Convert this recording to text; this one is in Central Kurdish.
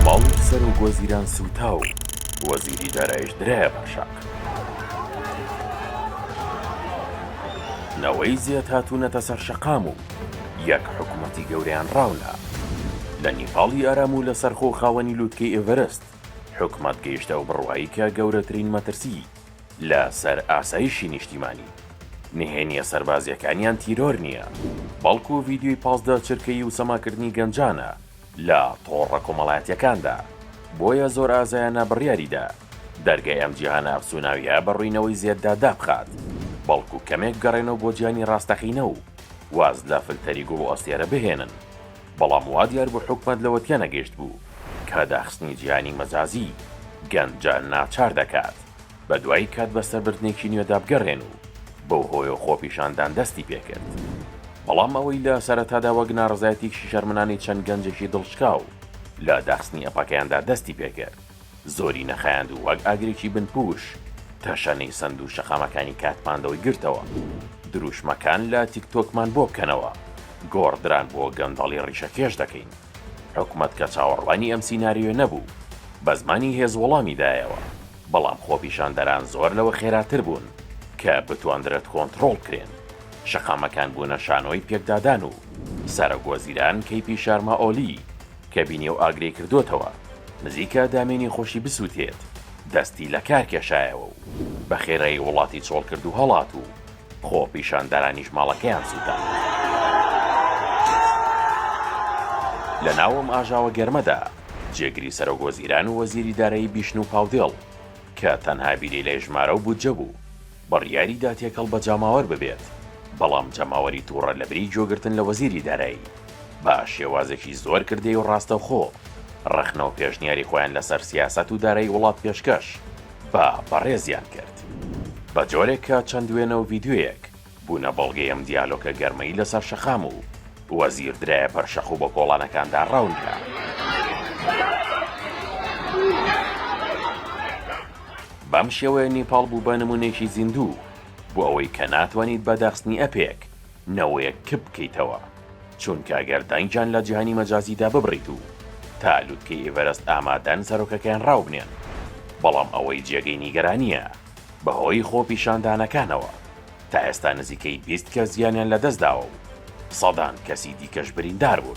ماڵی سەرۆک وەزیران سووتا و وەزیری دارایش درایە بە شاخ. نەوەی زێد هاتوونەتە سەر شەقام و یەک حکوومەتی گەورەیان ڕاونا. لە نیپاڵی ئارام و لەسەرخۆ خاوەنی لووتکەی ئێڤەرست، حکومەت گەیشتە ئەو بڕوایەی کە گەورەترین مەترسی لە سەر ئاسایشی نیشتیمانی. نهێنیە سەربازیەکانیان تیرۆر نیە بەڵکو ڤیدیۆی پازدە چرکەیی و سەماکردنی گەنجانە لە تۆڕە کۆمەڵایەتیەکاندا بۆیە زۆر ئازایانە بڕیاری دا دەرگای ئەم جیهانە ئەفسوناویە بە ڕوینەوەی زێددا دابخات بەڵکو کەمێک بگەڕێنەوە بۆ جیهانی ڕاستەقینە و واز لە فلتەری گوڵ و ئەستێرە بهێنن. بەڵام وا دیار بوو حکومەت لەوە تێنەگەیشتبوو کە داخستنی جیهانی مەجازی گەنجان ناچار دەکات بە دوای کات بە سەربردنێکی نوێدا بگەڕێن و بەو هۆیەوە خۆپیشاندان دەستی پێکرد بەڵام ئەوەی لە سەرەتادا وەک ناڕەزایەتیەکی شەرمنانەی چەند گەنجێکی دڵشکاو لە داخستنی ئەپەکەیاندا دەستی پێکرد. زۆری نەخایاند و وەک ئاگرێکی بنپووش تەشەنەی سەند و شەقامەکانی کاتماندۆی گرتەوە. درووشمەکان لە تیک تۆکمان بۆ بکەنەوە، گۆڕدران بۆ گەندەڵی ڕیشەکێش دەکەین. حکومەت کە چاوەڕوانی ئەم سیناریۆیە نەبوو، بە زمانی هێز وەڵامی دایەوە، بەڵام خۆپیشاندەران زۆر لەوە خێراتر بوون کە بتواندرێت کۆنتڕۆڵ بکرێن. شەقامەکان بوونە شانۆی پێکدادان و سەرۆک وەزیران کەیپی شارمائۆلی، کە بینی و ئاگرەی کردۆتەوە نزیکە دامێنی خۆشی بسووتێت، دەستی لە کار کێشایەوە و بە خێرایی وڵاتی چۆڵ کرد و هەڵات و خۆپیشاندەرانیش ماڵەکەیان سووتاند. لە ناو ئەم ئاژاوە گەرمەدا جێگری سەرۆک وەزیران و وەزیری دارایی بیشنوو پاودێڵ کە تەنها بیری لێژمارە و بودجە بوو، بڕیاری دا تێکەڵ بە جاماوەر ببێت، بەڵام جەماوەری توڕە لەبری گوێگرتن لە وەزیری دارایی بە شێوازێکی زۆر کردەیی و ڕاستەوخۆ ڕەخنە و پێشنیاری خۆیان لەسەر سیاسەت و دارایی وڵات پێشکەش بە بەڕێزیان کرد بە جۆرێک کە چەند وێنە و ڤیدیۆیەک بوونە بەڵگەی ئەم دیالۆکە گەرمەی لەسەر شەقام و وەزیر درایە پەر شەق و بە کۆڵانەکاندا ڕەون کرا. بەم شێوەیە نیپاڵ بوو بە نموونەیەکی زیندوو بۆ ئەوەی کە ناتوانیت بە داخستنی ئەپێک نەوەیەک کپ بکەیتەوە، چونکە گەر دەنگیان لە جیهانی مەجازیدا ببڕیت و تا لوتکەی ئیڤەرەست ئامادەن سەرۆکەکەیان ڕاوبنێن، بەڵام ئەوەی جێگەی نیگەرانییە بەهۆی خۆپیشاندانەکانەوە. تا ئێستا نزیکەی بیست کەس گیانیان لەدەستداوە و سەدان کەسی دیکەش بریندار بوون.